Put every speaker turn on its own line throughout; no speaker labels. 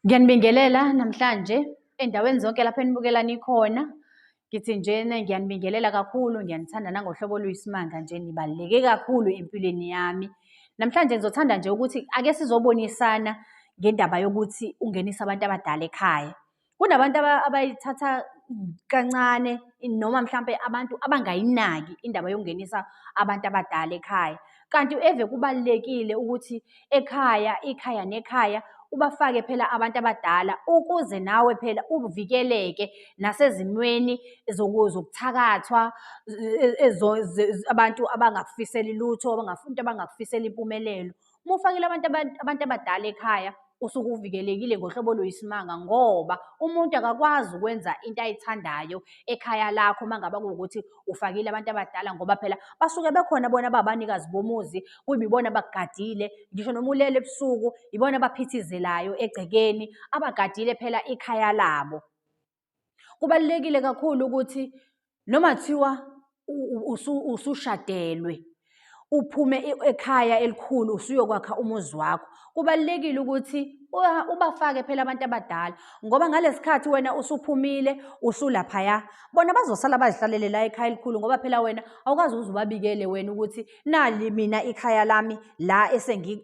Ngiyanibingelela namhlanje endaweni zonke lapho enibukela nikhona. Ngithi njena ngiyanibingelela kakhulu, ngiyanithanda nangohlobo oluyisimanga nje, nibaluleke kakhulu empilweni yami. Namhlanje ngizothanda nje ukuthi ake sizobonisana ngendaba yokuthi ungenise abantu abadala ekhaya. Kunabantu abayithatha kancane noma mhlampe abantu abangayinaki indaba yokungenisa abantu abadala ekhaya. Kanti eve kubalulekile ukuthi ekhaya, ikhaya nekhaya ubafake phela abantu abadala ukuze nawe phela uvikeleke nasezimweni zokuthakathwa abantu abangakufiseli lutho, abantu abangakufiseli impumelelo. Uma ufakile abantu abantu abadala ekhaya usuke uvikelekile ngohlobo oluyisimanga ngoba umuntu akakwazi ukwenza into ayithandayo ekhaya lakho uma ngaba kuwukuthi ufakile abantu abadala ngoba phela basuke bekhona bona babanikazi bomuzi kuyibona abagadile ngisho noma ulele ebusuku ibona abaphithizelayo egcekeni abagadile phela ikhaya labo Kubalulekile kakhulu ukuthi noma kuthiwa usushadelwe uphume ekhaya elikhulu usuyokwakha umuzi wakho kubalulekile ukuthi ubafake phela abantu abadala ngoba ngalesikhathi wena usuphumile usulaphaya bona bazosala bazihlalele la ekhaya elikhulu ngoba phela wena awukazi uze ubabikele wena ukuthi nali mina ikhaya lami la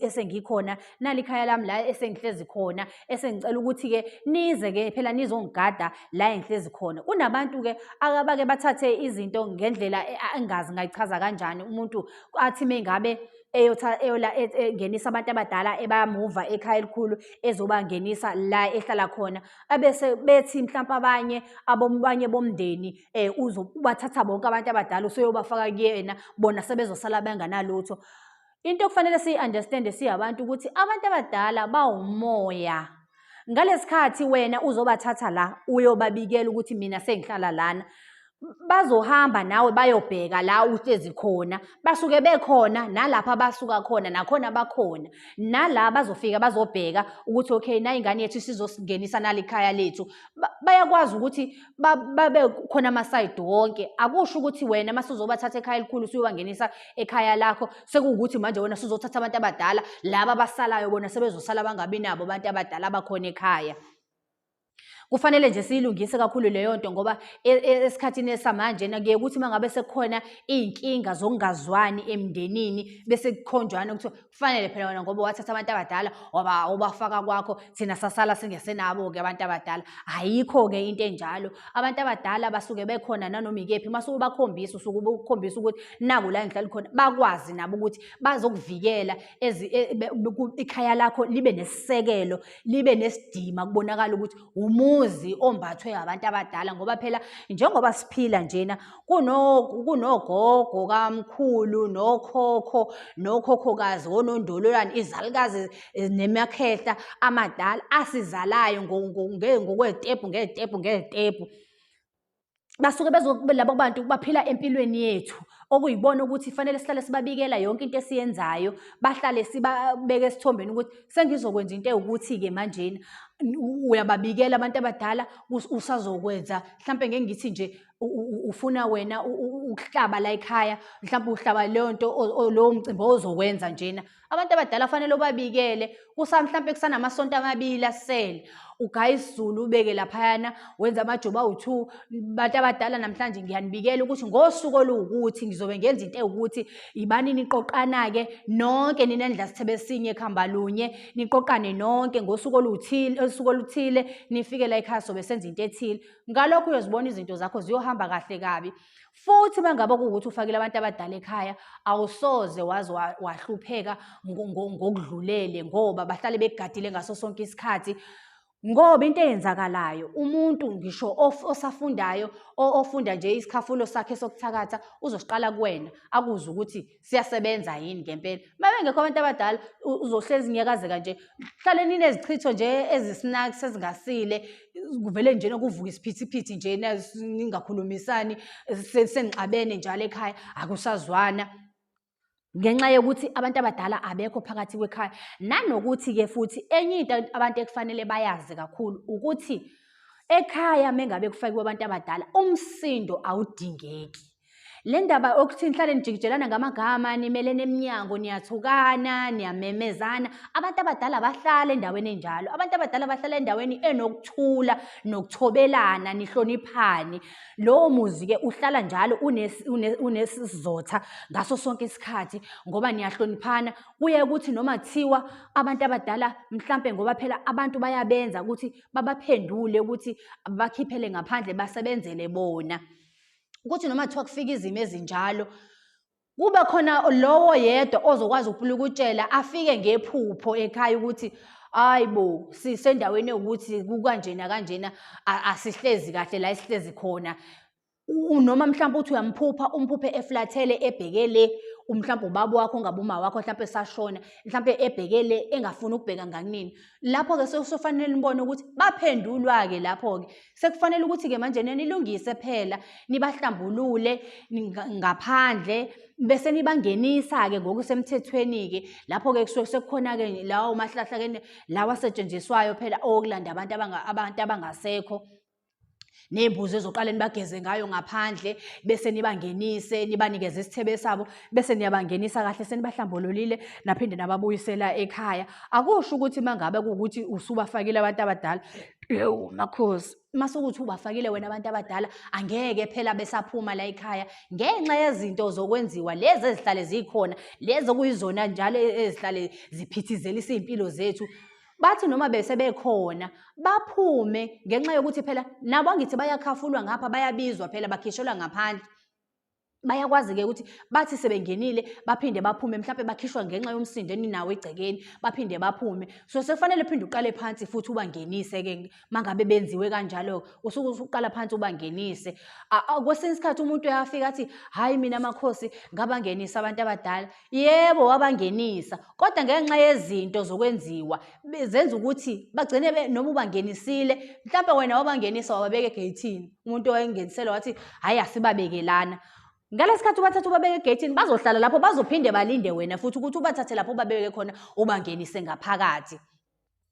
esengikhona nali ikhaya lami la esengihlezi khona esengicela ukuthi-ke nize-ke phela nizongigada la engihlezi khona kunabantu-ke akabake bathathe izinto ngendlela e, engazi ngayichaza kanjani umuntu athi mengabe eyotha eyola e, e, ngenisa abantu abadala ebamuva ekhaya elikhulu ezobangenisa la ehlala khona abese bethi mhlawumbe abanye abanye bomndeni eh uzobathatha bonke abantu abadala usuyobafaka kuyena bona sebezosala benganalutho into okufanele siyi-understande siyabantu ukuthi abantu abadala bawumoya ngalesikhathi wena uzobathatha la uyobabikela ukuthi mina sengihlala lana bazohamba nawe bayobheka la uhlezi khona basuke bekhona nalapha basuka khona nakhona bakhona nala bazofika bazobheka ukuthi okay nayi ingane yethu sizosingenisa nalikhaya lethu bayakwazi ukuthi babe khona amasayidi wonke akusho ukuthi wena uma suzobathatha ekhaya elikhulu suyobangenisa ekhaya lakho sekuwukuthi manje wena suzothatha abantu abadala laba abasalayo bona sebezosala bangabi nabo abantu abadala abakhona ekhaya kufanele nje siyilungise kakhulu leyo nto ngoba e, e, esikhathini esamanje nakuye ukuthi uma ngabe sekukhona iy'nkinga zokungazwani emndenini bese kukhonjwana kuthiwa kufanele phela wena ngoba wathatha abantu abadala waba ubafaka kwakho thina sasala singesenabo-ke abantu abadala ayikho-ke into enjalo abantu abadala basuke bekhona nanoma ikephi uma sukubakhombisa usuke ubukhombisa ukuthi naku la engihlali khona bakwazi nabo ukuthi bazokuvikela e, ikhaya lakho libe nesisekelo libe nesidima kubonakala ukuthi umuzi ombathwe abantu abadala ngoba phela njengoba siphila njena kunogogo kamkhulu nokhokho nokhokhokazi wonondololwane izalukazi eh, nemakhehla amadala asizalayo ngokwetepu ngetepu ngetepu basuke bezokube labo bantu baphila empilweni yethu okuyibona ukuthi fanele sihlale sibabikela yonke into esiyenzayo bahlale sibabeke esithombeni ukuthi sengizokwenza into ewukuthi-ke manjena uyababikela abantu abadala usazokwenza mhlampe ngeke ngithi nje ufuna wena ukuhlaba la ekhaya mhlawumbe uhlaba leyo nto lowo mcimbi ozowenza njena abantu abadala fanele ubabikele kusa mhlawumbe kusanamasonto amabili asele ugaya isizulu ubeke laphayana wenza amajoba awu-two bantu abadala namhlanje ngiyanibikela ukuthi ngosuku oluwukuthi ngizobe ngenza into ewukuthi yibani niqoqana-ke nonke ninendla sithebe sinye ekuhamba lunye niqoqane nonke ngosuku oluthile osuku oluthile nifike la ekhaya sobe senza into ethile ngalokho uyozibona izinto zakho ziyohamba kahle kabi futhi uma ngabe kuwukuthi ufakile abantu abadala ekhaya awusoze waze wahlupheka ngokudlulele ngoba bahlale begadile ngaso sonke isikhathi ngoba into eyenzakalayo umuntu ngisho osafundayo ofunda nje isikhafulo sakhe sokuthakatha uzosiqala kuwena akuze ukuthi siyasebenza yini ngempela uma bengekho abantu abadala uzohlezi nyakazeka nje hlale ninezichitho nje ezisinaks ezingasile kuvele nje nokuvuka isiphithiphithi nje ningakhulumisani senixabene njalo ekhaya akusazwana ngenxa yokuthi abantu abadala abekho phakathi kwekhaya nanokuthi-ke futhi enye into abantu ekufanele bayazi kakhulu ukuthi ekhaya mengabe kufakiwe abantu abadala umsindo awudingeki Le ndaba okuthi nihlale nijikijelana ngamagama nimelene eminyango niyathukana niyamemezana abantu abadala bahlala endaweni enjalo abantu abadala bahlala endaweni enokuthula nokuthobelana nihloniphane lowo muzi-ke uhlala njalo unesizotha ngaso sonke isikhathi ngoba niyahloniphana kuye ukuthi noma kuthiwa abantu abadala mhlampe ngoba phela abantu bayabenza ukuthi babaphendule ukuthi bakhiphele ngaphandle basebenzele bona ukuthi noma kuthiwa kufika izimo ezinjalo kube khona lowo yedwa ozokwazi ukupulukutshela afike ngephupho ekhaya ukuthi hayi bo sisendaweni yokuthi kukanjena kanjena asihlezi kahle la esihlezi khona noma mhlawumbe uthi uyamphupha umphuphe eflathele ebheke le umhlawumbe ubaba wakho ngabe uma wakho mhlawumbe esashona mhlawumbe ebheke le engafuni ukubheka ngakunini lapho-ke sofanele nibone ukuthi baphendulwa-ke lapho-ke sekufanele ukuthi-ke manje nenilungise phela nibahlambulule ngaphandle bese nibangenisa-ke ngokusemthethweni-ke lapho-ke kusuke sekukhona-ke lawo mahlahla-ke lawa asetshenziswayo phela okulanda abantu abantu abangasekho ney'mbuzi ezoqale nibageze ngayo ngaphandle bese nibangenise nibanikeze isithebe sabo bese niyabangenisa kahle senibahlambululile naphinde nababuyisela ekhaya akusho ukuthi uma ngabe kuwukuthi usubafakile abantu abadala Ewu makhosi masukuthi ubafakile wena abantu abadala angeke phela besaphuma la ekhaya ngenxa yezinto zokwenziwa lezi ezihlale zikhona lezi okuyizona njalo e-, ezihlale ziphithizelisa izimpilo zethu bathi noma bese bekhona baphume ngenxa yokuthi phela nabo angithi bayakhafulwa ngapha bayabizwa phela bakhishelwa ngaphandle bayakwazi-ke ukuthi bathi sebengenile baphinde baphume mhlawumbe bakhishwa ngenxa yomsindo eninawo egcekeni baphinde baphume so sekufanele uphinde uqale phansi futhi ubangenise-ke mangabe benziwe kanjalo usuke usuqala phansi ubangenise kwesinye isikhathi umuntu uyafika athi hhayi mina makhosi ngabangenisa abantu abadala Yebo wabangenisa kodwa ngenxa yezinto zokwenziwa zenza ukuthi bagcine noma ubangenisile mhlawumbe wena wabangenisa wababeka egeyithini umuntu owayengenisele wathi hhayi asibabekelana ngalesikhathi ubathatha ubabeke egeyithini bazohlala lapho bazophinde balinde wena futhi ukuthi ubathathe lapho ubabeke khona ubangenise ngaphakathi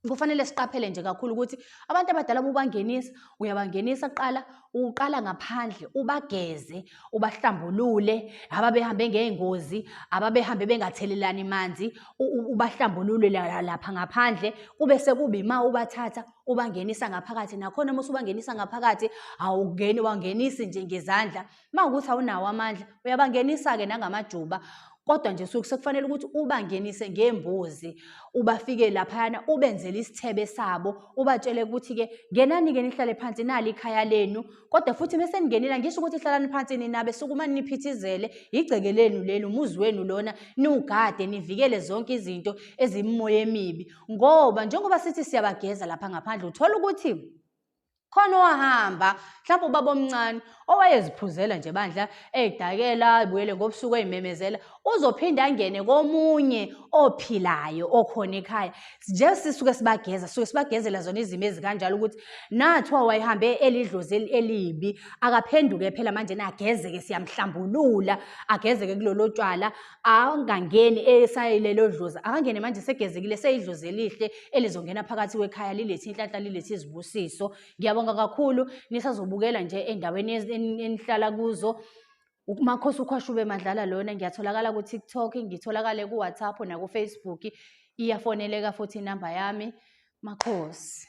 kufanele siqaphele nje kakhulu ukuthi abantu abadala uma ubangenisa uyabangenisa kuqala uqala ngaphandle ubageze ubahlambulule ababehambe ngey'ngozi ababehambe bengathelelani manzi ubahlambulule lapha ngaphandle kube sekuba ima ubathatha ubangenisa ngaphakathi nakhona uma usubangenisa ngaphakathi awungeni wangenisi nje ngezandla Uma ukuthi awunawo amandla uyabangenisa-ke nangamajuba kodwa nje suke sekufanele ukuthi ubangenise ngembuzi ubafike laphayana ubenzele isithebe sabo ubatshele ukuthi-ke ngenani-ke nihlale phansi nali ikhaya lenu kodwa futhi uma seningenile ngisho ukuthi hlalani phansi ninabe sukumane niphithizele yigceke lenu leli umuzi wenu lona niwugade nivikele zonke izinto ezimimoya emibi ngoba njengoba sithi siyabageza lapha ngaphandle uthola ukuthi khona owahamba mhlawumbe ubaba omncane owayeziphuzela nje bandla eyidakela ibuyele ngobusuku eyimemezela uzophinde angene komunye ophilayo okhona ekhaya nje sisuke sibageza suke sibagezela zona izimo ezikanjalo ukuthi nathiwa wayehambe elidlozi elibi akaphenduke phela manje nagezeke siyamhlambulula agezeke kulolo tshwala angangeni esayilelo dlozi akangene manje segezekile seyidlozi elihle elizongena phakathi kwekhaya lilethe inhlanhla lilethe izibusiso ngiyabonga kakhulu nisazobukela nje endaweni enihlala kuzo umakhosi ukhwashube madlala lona ngiyatholakala ku-tiktok ngitholakale ku-whatsapp nakufacebook iyafoneleka futhi inamba yami makhosi